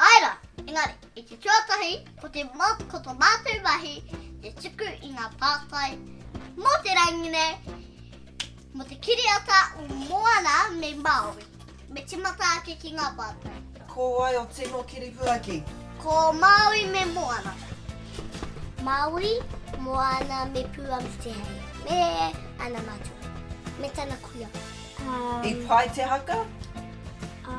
Āe rā, engari, i te tuatahi, ko te mot, ko tō mātou mahi, te tuku i ngā pātai mō te rangi nei, mō te kiriata o Moana me Māui, me timata ake ki ngā pātai. Ko wai o tino kiripuaki? Ko Māui me Moana. Māui, Moana me Pūamitehei, me ana matua, me tana kuia. I pai te haka? Ā.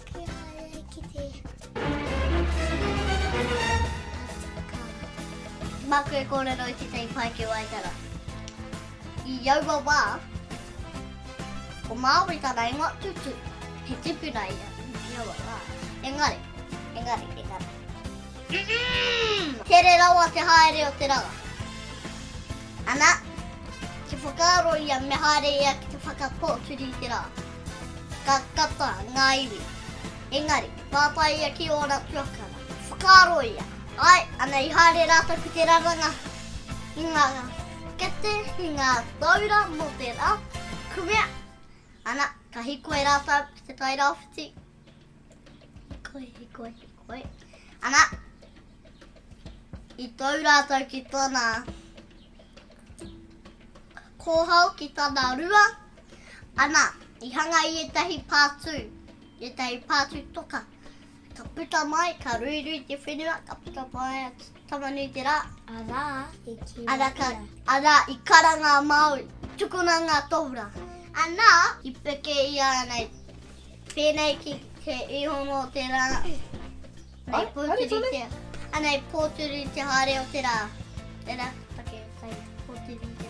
Maku e kōrero i tētahi pae ki Waitara. I aua wā, ko Māori tana ingoa, Tutu. He tipuna ia, i aua wā. Engari, engari, engari. Mmm! Tere rawa te haere o te ranga. Ana, kia whakaaro ia me haere ia ki te whakapōturi i te rā. Ka kata ngā iwi. Engari, pātai ia ki ōna tuakana. Whakaaro ia, Āe, ana i haere rātou ki te raranga i ngā kete, i ngā taura mō te rā, kumea, ana, ka hīkoi rātou ki te tairāwhiti. Koi, koi, koi. Ana, i tau rātou ki tana kōhau ki tana rua. Ana, i hanga i etahi pātū, etahi pātū toka. Ka puta mai, ka ruirui te whenua, ka puta mai atu. Tama nui te rā. Arā, i kīngia ia. Arā, arā, i karanga a Māui. Tukuna ngā tōra. Anā, i peke ia nei. Pēnei ki te ihono o te rā. Nei pōturi te. Anei pōturi te haere o te rā. Tērā, take, kai, pōturi te.